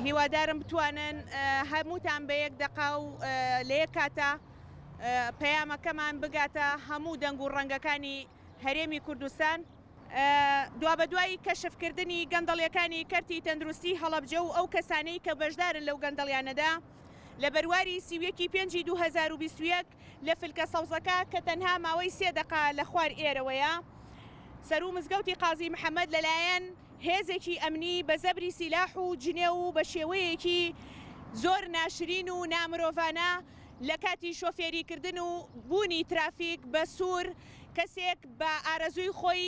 هیوادارم بتوانن هەمووتان بە یەک دەقا و لە یەک کاتە پەیامەکەمان بگاتە هەموو دەنگ و ڕەنگەکانی هەرێمی کوردستان دوا بە دوایی کەشفکردنی گەندەڵیەکانی کەرتی تەندروستی هەڵەبجە و ئەو کەسانەی کە بەشدارن لەو گەندەڵیانەدا لە بەرواری سی و یەک ی پێنجی دوو هەزار و بیست و یەک لە فلکە سەوزەکە کە تەنها ماوەی سێ دەقە لە خوار ئێرەوەیە سەروو مزگەوتی قازی محەمەد لەلایەن هێزێکی ئەمنی بە زەبری سیلاح و جنێو و بە شێوەیەکی زۆر ناشرین و نامرۆڤانە لە کاتی شۆفێری کردن و بوونی ترافیک بە سوور کەسێک بە ئارەزووی خۆی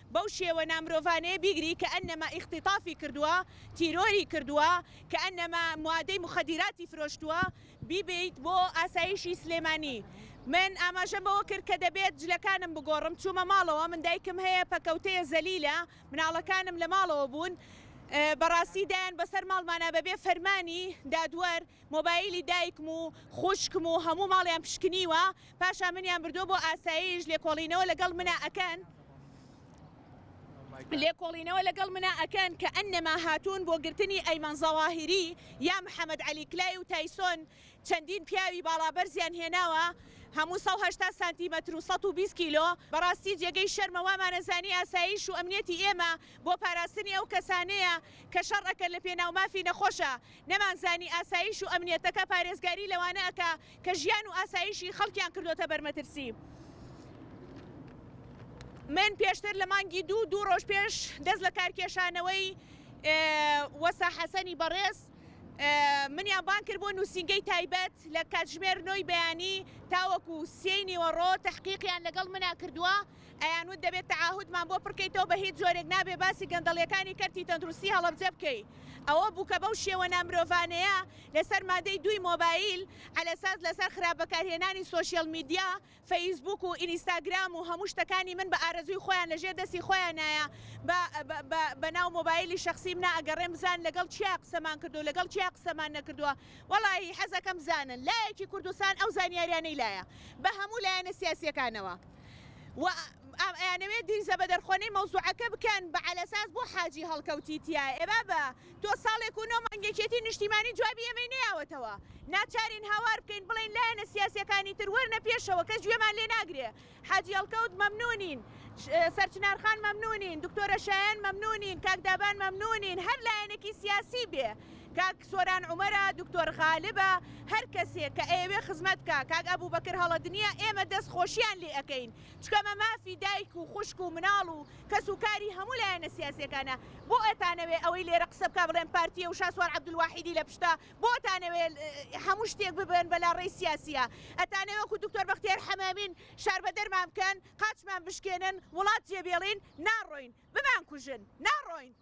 بەو شێوە نامرۆڤانەیە بیگری کەئەنەما ئیختیتافی کردووە، تیرۆری کردووە، کەئەنەما موادەی موخەدیراتی فرۆشتووە، بیبەیت بۆ ئاسایشی سلێمانی. من ئاماژەم بەوە کرد کە دەبێت جلەکانم بگۆڕم، چوومە ماڵەوە، من دایکم هەیە پەکەوتەیە زەلیلە، مناڵەکانم لە ماڵەوە بوون، بەڕاستی دایان بەسەر ماڵمانا بەبێ فەرمانی دادوەر، مۆبایلی دایکم و خوشکم و هەموو ماڵیان پشکنیوە پاشان منیان بردووە بۆ ئاسایش لێکۆڵینەوە لەگەڵ منا ئەکەن لێکۆڵینەوە لەگەڵ منا ئەکەن کە ئەننەما هاتوون بۆ گرتنی ئەیمەن زەواهیری یا محەمەد عەلی کلای و تایسۆن چەندین پیاوی باڵابەرزیان هێناوە هەموو سەد و هەشتا سانتیمەتر و سەد و بیست کیلۆ بەڕاستی جێگەی شەرمە وامانەزانی ئاسایش و ئەمنیەتی ئێمە بۆ پاراستنی ئەو کەسانەیە کە شەڕ ئەکەن لەپێناو مافی نەخۆشە نەمانزانی ئاسایش و ئەمنیەتەکە پارێزگاری لەوانە ئەکا کە ژیان و ئاسایشی خەڵکیان کردۆتە بەرمەترسی. من پێشتر لە مانگی دوو دوو ڕۆژ پێش دەست لە کارکێشانەوەی وەسا حەسەنی بەڕێز منیان بان کرد بۆ نووسینگەی تایبەت لە کاتژمێر نۆی بەیانی تاوەکو سێی نیوەڕۆ تەحقیقیان لەگەڵ منا کردووە ئەیان وت دەبێت تەعاهودمان بۆ پڕکەیتەوە بە هیچ جۆرێک نابێت باسی گەندەڵیەکانی کەرتی تەندروستی هەڵەبجە بکەی ئەوە بوو کە بەو شێوە نامرۆڤانەیە لەسەر مادەی دووی مۆبایل عەلەساس لەسەر خراپ بەکارهێنانی سۆشیەل میدیا فەیسبووک و ئینیستاگرام و هەموو شتەکانی من بە ئارەزووی خۆیان لەژێر دەستی خۆیانایە بە بە بە ناو مۆبایلی شەخسیم نا ئەگەڕێم بزانن لەگەڵ کیا قسەمان کردووە لەگەڵ کیا قسەمان نەکردووە وەڵاهی حەزەکەم بزانن لایەکی کوردستان ئەو زانیاریانەی لایە بە هەموو لایەنە سیاسیەکانەوە. و ئەیانەوێ دیرزە بە دەرخۆنەی مەوزوعەکە بکەن بە عەلەساس بۆ حاجی هەڵکەوتی تیا ئێ بابە تۆ ساڵێک و نۆ مانگ یەکێتی نیشتیمانی جوابی ئێمەی نەیاوەتەوە ناچارین هاوار بکەین بڵێین لایەنە سیاسیەکانی تر وەرنە پێشەوە کەس گوێمان لێ ناگرێ حاجی هەڵکەوت مەمنونین سەرچنار خان مەمنونین دکتۆرە شایان مەمنونین کاک دابان مەمنونین هەر لایەنەکی سیاسی بێ کاک سۆران عومەرە دکتۆر غالبە هەر کەسێک کە ئەیەوێ خزمەت بکا کاک ئەبوبەکر هەڵەت نیە ئێمە دەست خۆشیان لێ ئەکەین چکە مە مافی دایک و خوشک و مناڵ و کەس و کاری هەموو لایەنە سیاسیەکانە بۆ ئەتانەوێ ئەوەی لێرە قسە بکا بڵێن پارتیە و شاسوار عبدالواحیدی لە پشتە بۆ ئەتانەوێ هەموو شتێک ببەن بە لا ڕێی سیاسیە ئەتانەوێ وەکو دکتۆر بەختیار حەمامین شار بە دەرمان بکەن قاچمان بشکێنن وڵات جێ بێڵین ناڕۆین بمان کوژن ناڕۆین.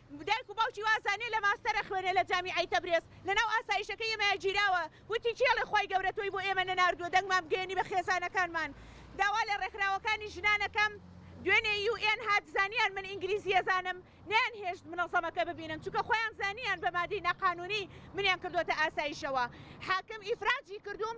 دایک و باوکی وازانێ لە ماستەر ئەخوێنێ لە جامیعەی تەبرێز لەناو ئاسایشەکەی ئێمەیا گیراوە وتی کێ ئەڵێ خوای گەورە تۆی بۆ ئێمە نەناردووە دەنگمان بگەیەنی بە خێزانەکانمان داوا لە ڕێکخراوەکانی ژنان ئەکەم دوێنێ یو ئێن هات زانیان من ئینگلیزی ئەزانم نەیان هێشت منەزەمەکە ببینن چونکە خۆیان زانیان بە مادەی ناقانونی منیان کردۆتە ئاسایشەوە حاکم ئیفراجی کردووم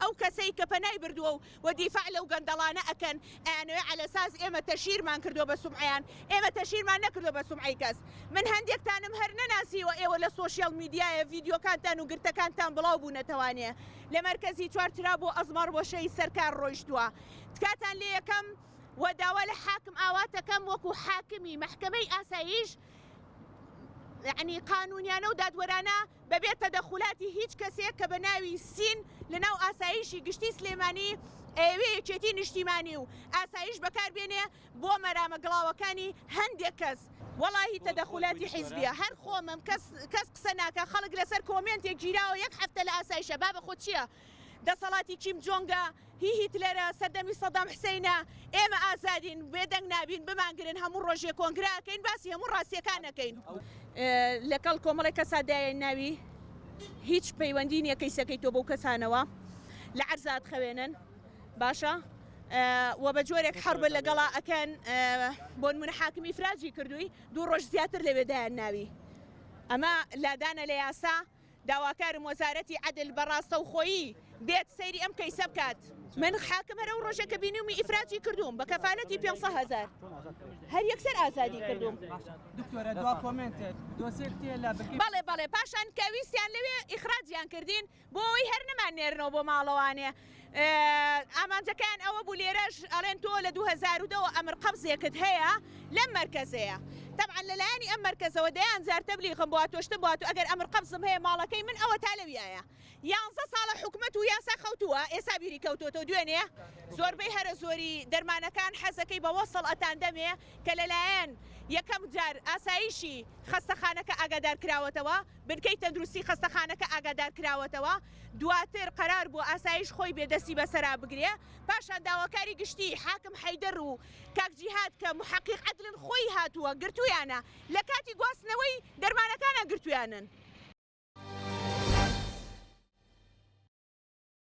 ئەو کەسەی کە پەنای بردووە و و دیفاع لەو گەندەڵانە ئەکەن ئەیانەوێ عەلەساس ئێمە تەشهیرمان کردووە بە سومعەیان، ئێمە تەشهیرمان نەکردووە بە سومعەی کەس. من هەندێکتانم هەر نەناسیوە ئێوە لە سۆشیال میدیایە ڤیدیۆکانتان و گرتەکانتان بڵاو بوونەتەوانێ لە مەرکەزی چوار ترا بۆ ئەزمەڕ وەشەی سەرکار ڕۆیشتووە تکاتان لێ یەکەم و داوا لە حاکم ئاوات ئەکەم وەکوو حاکمی مەحکەمەی ئاسایش یەعنی قانوونیانە و دادوەرانە بە بێ تەدەخولاتی هیچ کەسێک کە بە ناوی سین لە ناو ئاسایشی گشتی سلێمانی ئەیەوێ یەکێتی نیشتیمانی و ئاسایش بەکار بێنێ بۆ مەرامە گڵاوەکانی هەندێک کەس وەڵاهی تەدەخولاتی حیزبیە هەر خۆمم کەس کەس قسە ناکا خەڵک لەسەر کۆمێنتێک گیراوە یەک هەفتە لە ئاسایشە بابە خۆ چیە دەسەڵاتی کیم جۆنگە هی هیتلەرە سەردەمی سەدام حسەینە ئێمە ئازادین بێدەنگ نابین بمانگرن هەموو ڕۆژێ کۆنگرە ئەکەین باسی هەموو ڕاستیەکان ئەکەین. لەکەڵ کۆمەڵێک کەسا دایە ناوی هیچ پەیوەندی نیە کەیسەکەی تۆ بەو کەسانەوە لە عەرزا ئەتخەوێنن باشە وە بە جۆرێک حەڕبە لەگەڵا ئەکەن بۆنمونە حاکمی فراجی کردووی دوو ڕۆژ زیاتر لەوێ دایان ناوی ئەمە لادانە لە یاسا داواکارم وەزارەتی عەدل بە ڕاستەوخۆیی بێت سەیری ئەم کەیسە بکات. من حاکم هەر ئەو ڕۆژە کە بینیومی ئیفراجی کردووم بە کەفالەتی پێنج سەد هەزار هەر یەکسەر ئازادی کردووم. دکتۆرە دوا کۆمێنتت دۆسێ کتێ لە بکیت. بەڵێ بەڵێ پاشان کە ویستیان لەوێ ئیخراجیان کردین بۆ ئەوەی هەر نەماننێرنەوە بۆ ماڵەوانێ. ئامانجەکەیان ئەوە بوو لێرەش ئەڵێن تۆ لە دوو هەزار و دە وە ئەمر قەبزێکت هەیە لەم مەرکەزەیە تەبعەن لە لایەنی ئەم مەرکەزەوە دەیان جار تەبلیغم بۆ هاتووە شتم بۆ هاتووە ئەگەر ئەمر قەبزم هەیە ماڵەکەی من ئەوەتا لەویایە یانزە ساڵە حکومەت و یاسا خەوتووە ئێستا بیری کەوتۆتەوە دوێنێ زۆربەی هەرە زۆری دەرمانەکان حەزەکەی بە وەسڵ ئەتان دەمێ کە لەلایەن یەکەم جار ئاسایشی خەستەخانەکە ئاگادار کراوەتەوە بنکەی تەندروستی خەستەخانەکە ئاگادار کراوەتەوە دواتر قەرار بوو ئاسایش خۆی بێ دەستی بەسەرا بگرێ پاشان داواکاری گشتی حاکم حەیدەر و کاک جیهاد کە محەقیق عەدلن خۆی هاتووە گرتوویانە لە کاتی گواستنەوەی دەرمانەکانا گرتوویانن.